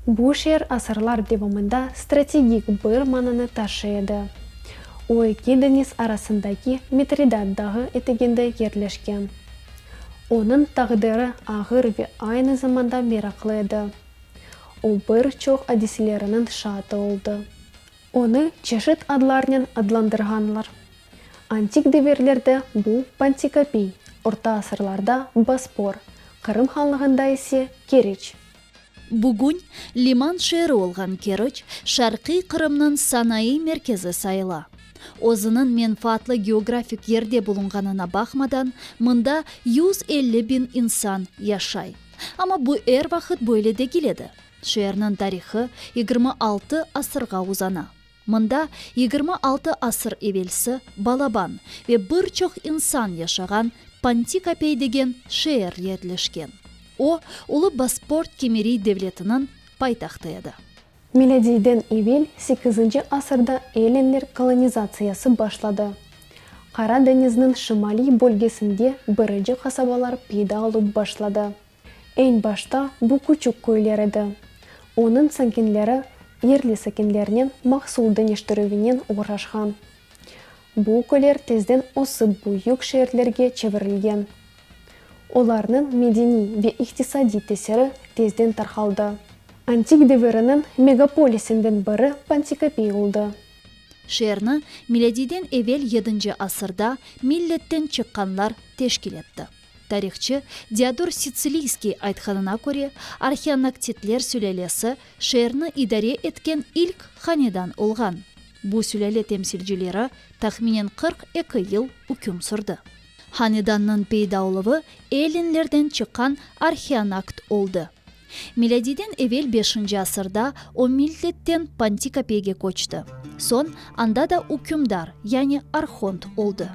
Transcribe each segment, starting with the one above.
Bu şeer asırlar devamında strategik bir mananı taşıy edi. O eki deñiz arasındaki Mitridat dağı eteginde yerleşken. Onıñ taqdiri ağır ve aynı zamanda meraqlı edi. O bir çoq adiseleriniñ şaatı oldı. Onı çeşit adlarnen adlandırğanlar. Antik devirlerde bu Pantikapiy, orta asırlarda Bospor, Qırım hanlığında ise Keriç. Bugün liman şeeri olğan Keriç Şarqiy Qırımnıñ sanaiy merkezi sayıla. Özüniñ menfaatlı geografik yerde bulunğanına baqmadan, mında yüz elli biñ insan yaşay. Amma bu er vaqıt böyle degil edi. Şeerniñ tarihı yigirmi altı asırğa uzana. Mında yigirmi altı asır evelsi balaban ve bir çoq insan yaşağan Pantikapey degen şeer yerleşken. O, Ulu Bosport-Kimeriy devletiniñ paytahtı edi. Milâdiyden evel sekizinci asırda ellenler kolonizatsiyası başladı. Qara deñizniñ şimaliy bölgesinde birinci qasabalar peyda olıp başladı. Eñ başta bu küçük köyler edi. Onıñ sakinleri yerli sakinlernen mahsul deñiştirüvinen oğraşqan. Bu köyler tezden ösip büyük şeerlerge çevirilgen. Olarnıñ medeniy ve iqtisadiy tesiri tezden tarqaldı. Antik deviriniñ megapolisinden biri Pantikapey oldı. Şeerni milâdiyden evel yedinci asırda milletten çıqqanlar teşkil etti. Tarihçı Diodor Sitsiliyskiy aytqanına köre, Arhionoktitler sülâlesi şeerni idare etken ilk hanedan olğan. Bu sülâle temsilcileri, tahminen, qırq eki yıl üküm sürdi. Hanedannıñ peyda oluvı ellinlerden çıqqan arhionakt oldı. Milâdiyden evel beşinci asırda o Miltetten Pantikapeyge köçti. Soñ anda da ükümdar, yani arhont oldı.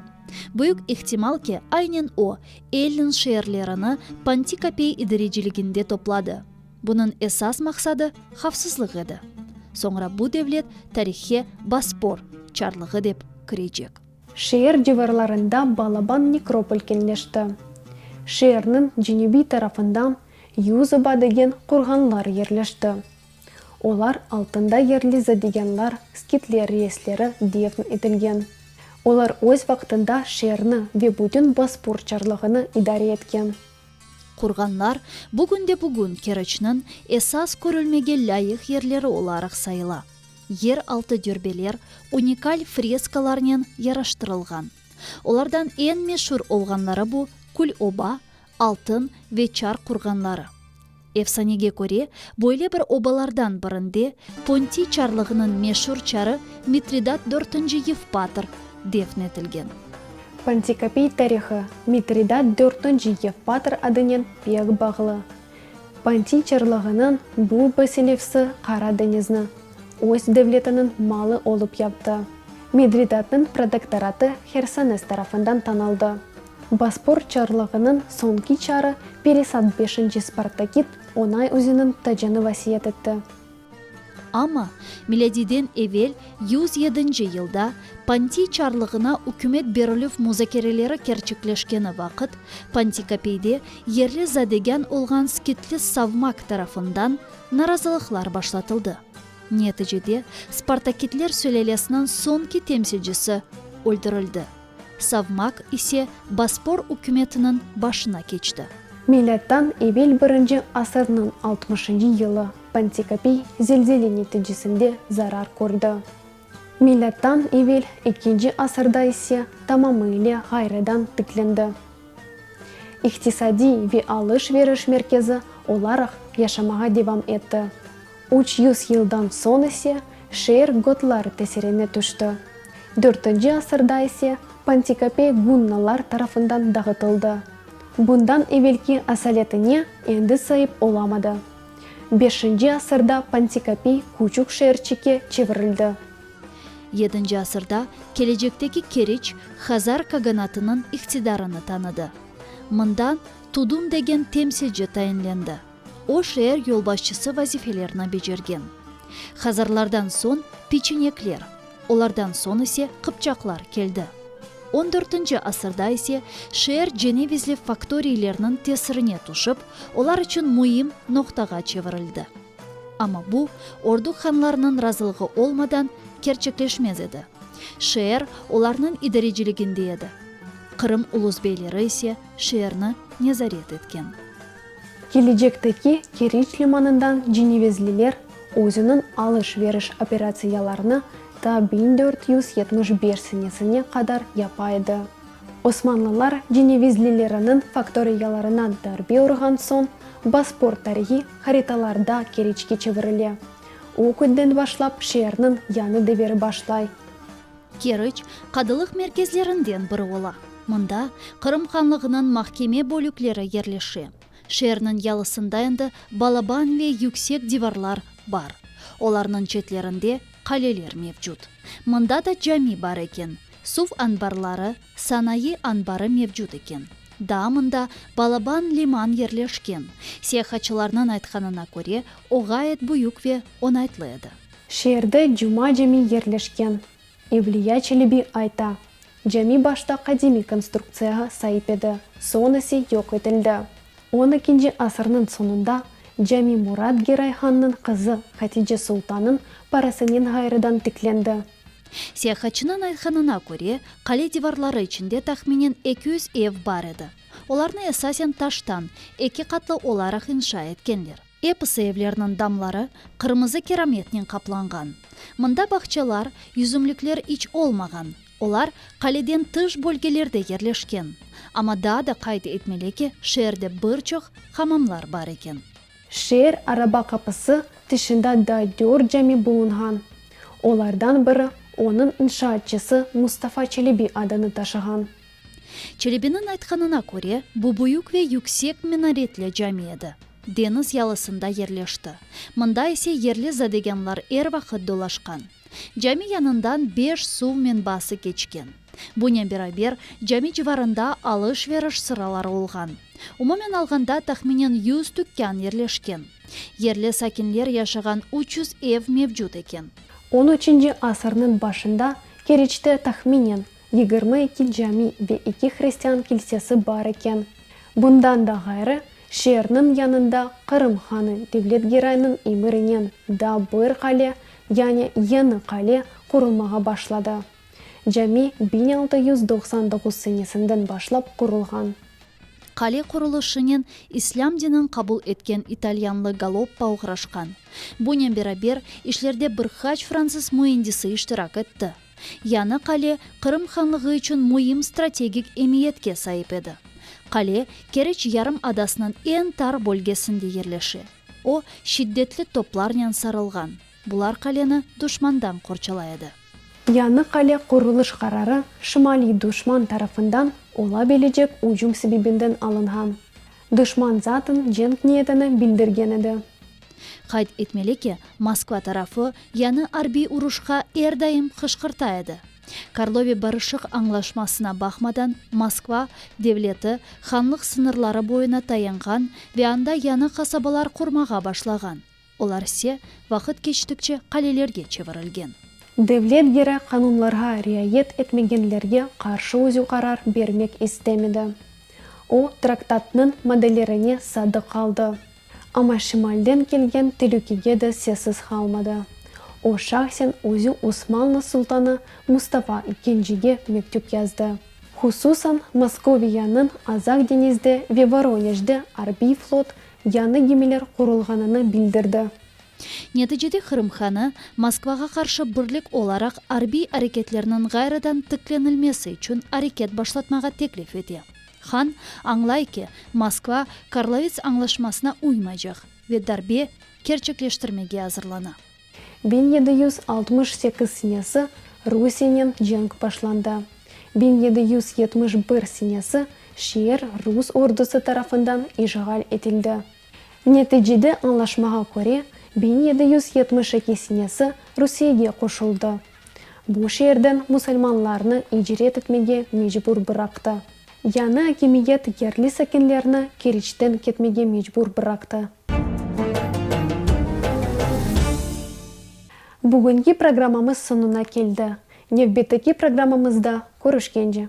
Büyük ihtimal ki, aynen o, Ellin şeerlerini Pantikapey idareciliginde topladı. Bunıñ esas maqsadı, havfsızlıq edi. Soñra bu devlet tarihhe Bospor çarlığı dep kirecek. Şeer civarlarında Balaban nekropol kenleşti. Şeerniñ cenübiy tarafından Yüzoba degen qurğanlar yerleşti. Olar altında yerliza degenlar skitler reisleri defn etilgen. Olar öz vaqtında şeerni ve bütün Bospur çarlığını idare etken. Qurğanlar bugün de bugün Keriçniñ esas körülmege lâyıq yerleri olaraq sayıla. Yer altı dörbeler unikal freskalarnen yaraştırılğan. Olardan eñ meşur olğanları bu Kül-oba, Altın ve Çar qurğanları. Efsanege köre, böyle bir obalardan birinde Pontiy çarlığınıñ meşur çarı Mitridat dörtünci Yevpatr defn etilgen. Pontikapiy tarihi Mitridat dörtünci Yevpatr adınen pek bağlı. Pontiy çarlığınıñ bu basilevsi Qara deñizni öz devletiniñ malı olıp yaptı. Midridatnıñ protektoratı Hersones tarafından tanıldı. Bospor çarlığınıñ soñki çarı Peresat beşinci Spartakid Onay üzüniñ tacını vasiyet etti. Amma, milâdiyden evel yüz yedinci yılda, Pontiy çarlığına ükümet berilüv muzakereleri kerçekleşkeni vaqıt, Pontikapeyde yerli zadegân olğan skitli savmak tarafından narazılıqlar başlatıldı. Neticede, Spartakidler sülâlesiniñ soñki temsilcisi öldürildi. Savmak ise Bospor ükümetiniñ başına keçti. Milâddan evel birinci asırnıñ altmışıncı yılı Pantikapiy zelzele neticesinde zarar kördi. Milâddan evel ekinci asırda ise tamamıyle ğayrıdan tiklendi. İqtisadiy ve alış-veriş merkezi olaraq yaşamağa devam etti. Üç yüz yıldan soñ ise şeer gotlar tesirine tüşti. Dörtünci asırda ise Pantikapey gunnalar tarafından dağıtıldı. Bundan evelki asaletine endi saip olamadı. Beşinci asırda Pantikapey küçük şeerçike çevirildi. Yedinci asırda kelecekteki Keriç Hazar kaganatınıñ iqtidarını tanıdı. Mında Tudun degen temsilci tayinlendi. O, şeer yolbaşçısı vazifelerini becergen. Hazarlardan soñ peçenekler, olardan soñ ise qıpçaqlar keldi. On dörtünci asırda ise şeer cenevizli faktoriylerniñ tesirine tüşip, olar içün müim noqtağa çevirildi. Amma bu, Orduk hanlarınıñ razılığı olmadan, kerçekleşmez edi. Şeer olarnıñ idareciliginde edi. Qırım ulus beyleri ise şeerni nezaret etken. Kelecekteki Keriç limanından cenevezliler özüniñ alış-veriş operatsiyalarını ta biñ dört yüz yetmiş beş senesine qadar yapa edi. Osmanlılar cenevezlileriniñ faktoriyalarından darbe urğan soñ Bospor tarihi haritalarda Keriçke çevirile. O künden başlap şeerniñ yañı deviri başlay. Keriç, qadılıq merkezlerinden biri ola. Mında Qırım Hanlığınıñ mahkeme bölükleri yerleşe. Şeerniñ yalısında endi balaban ve yüksek divarlar bar. Olarnıñ çetlerinde qaleler mevcut. Mında da cami bar eken. Suv anbarları, sanayı anbarı mevcut eken. Daa mında balaban liman yerleşken. Siyahatçılarnıñ aytqanına köre, o ğayet büyük ve onaytlı edi. Şeerde Cuma cami yerleşken. Evliya Çelebi ayta, Cami başta qadimiy konstruktsiyağa saip edi, soñ ise yoq etildi. On ekinci asırnıñ soñunda cami Murat Geray hannıñ qızı Hatice Sultanıñ parasınen ğayrıdan tiklendi. Siyahatçınıñ aytqanına köre, qale divarları içinde tahminen eki yüz ev bar edi. Olarnı esasen taştan, eki qatlı olaraq inşa etkenler. Episi evlerniñ damları qırmızı kerametnen qaplanğan. Mında bağçalar, yüzümlikler iç olmağan, olar qaleden tış bölgelerde yerleşken. Amma daa da qayd etmeli ki, şeerde bir çoq hamamlar bar eken. Şeer araba qapısı tışında da dört cami bulunğan. Olardan biri, onıñ inşaatçısı Mustafa Çelebi adını taşığan. Çelebiniñ aytqanına köre, bu büyük ve yüksek minaretli cami edi. Deñiz yalısında yerleşti. Mında ise yerli zadeganlar er vaqıt dolaşqan. Cami yanından beş suv menbası keçken. Bunen beraber, cami civarında alış-veriş sıraları olğan. Umumen alğanda, tahminen yüz tükkan yerleşken. Yerli sakinler yaşağan üç yüz ev mevcut eken. On üçünci asırnıñ başında Keriçte tahminen Yigirmi eki cami ve eki hristian kilsesi bar eken. Bundan da ğayrı, şeerniñ yanında Qırım hanı Devlet Giraynıñ emirinen da bir qale, yani yeñi qale, qurulmağa başladı. Cami biñ altı yüz doqsan doquz senesinden başlap qurulğan. Qale qurulışınen islâm dinin qabul etken italyanlı Galoppa oğraşqan. Bunen beraber, işlerde bir qaç fransız müendisi iştirak etti. Yañı qale Qırım Hanlığı içün müim strategik emiyetke saip edi. Qale Kereç yarım adasınıñ eñ tar bölgesinde yerleşe. O, şiddetli toplarnen sarılğan, bular qaleni duşmandan qorçalay edi. Yañı qale qurulış qararı şimaliy duşman tarafından ola bilecek ücüm sebebinden alınğan. Duşman zaten cenk niyetini bildirgen edi. Qayd etmeli ki, Moskva tarafı yanı arbiy uruşqa er daim qışqırta edi. Karlovi barışıq añlaşmasına baqmadan, Moskva, devleti hanlıq sıñırları boyuna tayanğan ve anda yanı qasabalar qurmağa başlağan, olarse vaqıt keçtikçe qalelerge çevirilgen. Devlet gerek qanunlarğa riayet etmegenlerge qarşı özü qarar bermek istemedi. O, traktatnıñ maddelerine sadıq qaldı, Amma şimalden kelgen telükege de sessiz qalmadı. O, şahsen özü Osmanlı sultanı Mustafa İkincige mektüp yazdı. Hususan, Moskoviyanıñ Azaq deñizde ve Voroneçde arbiy flot, yañı gemiler qurulğanını bildirdi. Neticede Qırım hanı, Moskvağa qarşı birlik olaraq arbiy areketlerniñ ğayrıdan tiklenilmesi içün areket başlatmağa teklif ete. Han añlay ki, Moskva Karlovits añlaşmasına uymaycaq ve darbe kerçekleştirmege azırlana. Biñ yedi yüz altmış sekiz senesi Rusiyenen cenk başlandı. Biñ yedi yüz yetmiş bir senesi şeer rus ordusı tarafından işğal etildi. Neticede añlaşmağa köre, biñ yedi yüz yetmiş eki sinesi Rusiyege qoşuldı. Bu şeerden musulmanlarnı icret etmege mecbur bıraqtı. Yañı akimiyet yerli sakinlerni Keriçten ketmege mecbur bıraqtı. Bugünki programmamız soñuna keldi. Nevbetteki programmamızda körüşkence.